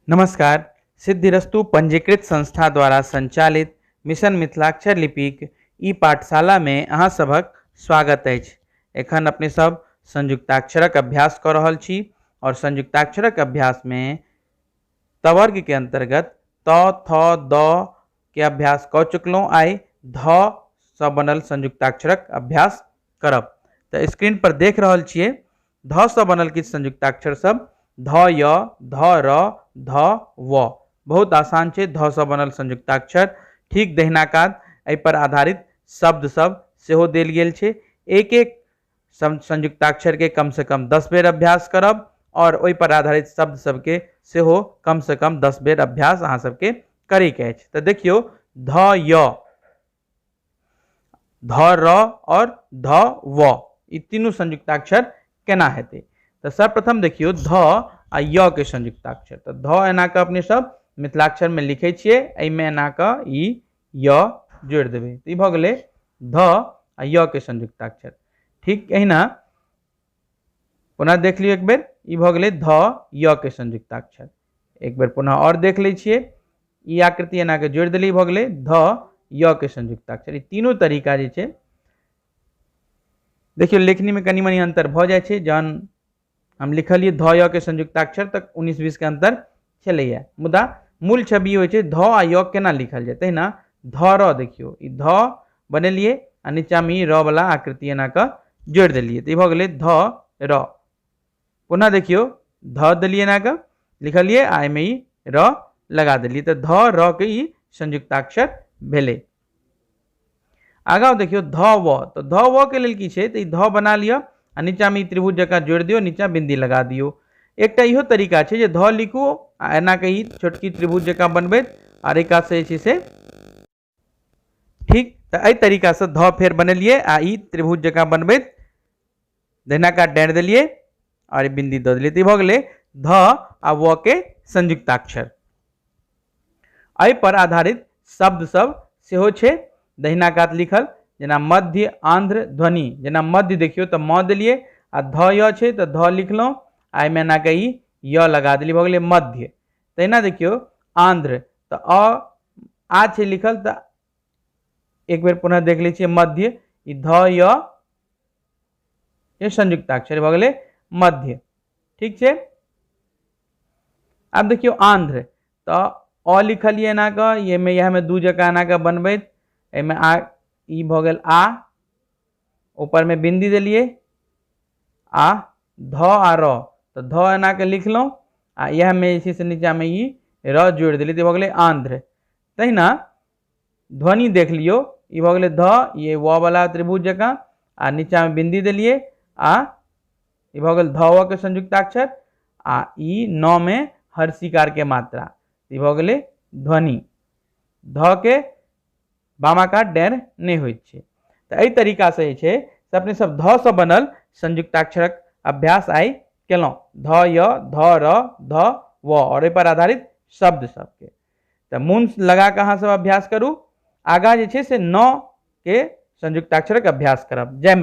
नमस्कार सिद्धिरस्तु पंजीकृत संस्था द्वारा संचालित मिशन मिथिलाक्षर लिपिक ई पाठशालामे अहाँ सभक स्वागत अछि एखन अपने सब संयुक्ताक्षरक अभ्यास कऽ रहल छी आओर संयुक्ताक्षरक अभ्यासमे तवर्गके अन्तर्गत त थ द के अभ्यास कऽ चुकलहुँ आइ ध सँ बनल संयुक्ताक्षरक अभ्यास करब तऽ स्क्रीन पर देख रहल छियै ध सँ बनल किछु संयुक्ताक्षर सब ध य ध र ध व बहुत आसान छै ध सँ बनल संयुक्ताक्षर ठीक दहिना कात एहिपर आधारित शब्द सब सेहो देल गेल छै एक एक संयुक्ताक्षरके कमसँ कम दस बेर अभ्यास करब आओर ओहिपर आधारित शब्द सबके सेहो कमसँ कम दस बेर अभ्यास अहाँ सबके करैके अछि तऽ देखियौ ध य ध र और ध व ई तीनू संयुक्ताक्षर केना हेतै तऽ सर्वप्रथम देखियौ ध आ य के संयुक्ताक्षर तऽ ध एना कऽ अपने सब मिथिलाक्षरमे लिखै छियै एहिमे एना कऽ ई य जोड़ि देबै तऽ ई भऽ गेलै ध आ य के संयुक्ताक्षर ठीक एहिना पुनः देख लियौ एक बेर ई भऽ गेलै ध य के संयुक्ताक्षर एक बेर पुनः और देख लै छियै ई आकृति एना के जोड़ देली भऽ गेलै ध य के संयुक्ताक्षर ई तीनों तरीका जे छै देखियौ लेखनी में कनी मनी अंतर भऽ जाइ छै जहन हम लिखलियै ध य के संयुक्ताक्षर तक उन्नीस बीस के अंतर छलैया मुदा मूल छवि होइ छै ध आ य केना लिखल जेतै ना ध र देखियौ ई ध बनेलियै आ नीचा में ई र वाला आकृति एना के जोड़ देलियै तऽ ई भऽ गेलै ध र पुनः देखियो ध दिलिए ना के लिखलिए आ एहिमे ई र लगा दिलिए तो ध र के ई संयुक्ताक्षर भेले आगा देखियो ध व तो ध व के लेल की छे तो ई ध बना लियो आ नीचा में ई त्रिभुज जका जोड़ दियो नीचा बिंदी लगा दियो एकटा इहो तरीका छे जे ध लिखू आ एना के ई छोटकी त्रिभुज जका बनबैत आर एक से जे छे से ठीक तऽ एहि तरीकासँ धऽ फेर बनेलियै आ ई त्रिभुज जकाँ बनबैत दहिना काट डाँटि देलियै आओर बिन्दी दऽ देलियै तऽ ई भऽ गेलै ध आ व के संयुक्ताक्षर एहिपर आधारित शब्द सब सेहो छै दहिना कात लिखल जेना मध्य आंध्र ध्वनि जेना मध्य देखियो तऽ म देलिए आ ध य छै तऽ ध लिखलहुँ आ एहिमे एनाके ई य लगा देलिए भऽ गेलै मध्य तहिना देखियौ आंध्र तऽ अ आ छै लिखल तऽ एक बेर पुनः देख लै छियै मध्य ई ध य ये संयुक्ताक्षर भऽ गेलै मध्य ठीक छै आब देखियौ आंध्र तऽ अ लिखलियै एना कऽ एहिमे इएहमे दू जकाँ एना कऽ बनबैत एहिमे आ ई भऽ गेल आ ऊपरमे बिन्दी देलियै आ ध आ र तऽ ध एना के लिखलहुँ आ इएहमे जे छै से नीचाँमे ई र जोड़ि देलियै तऽ भऽ गेलै आन्ध्र तहिना ध्वनि देख लियौ ई भऽ गेलै ध ई व बला त्रिभुज जकाँ आ नीचाँमे बिन्दी देलियै आ ई भऽ गेल ध के संयुक्ताक्षर आ ई न मे हर शिकारके मात्रा ई भऽ गेलै ध्वनि ध के बामा कात डैर नहि होइत छै तऽ एहि तरीकासँ जे छै से अपने सब ध सँ बनल संयुक्ताक्षरक अभ्यास आइ केलहुँ ध य ध र ध व आओर एहिपर आधारित शब्द सबके तऽ मोन लगा कऽ अहाँ सब अभ्यास करू आगाँ जे छै से न के संयुक्ताक्षरक अभ्यास करब जय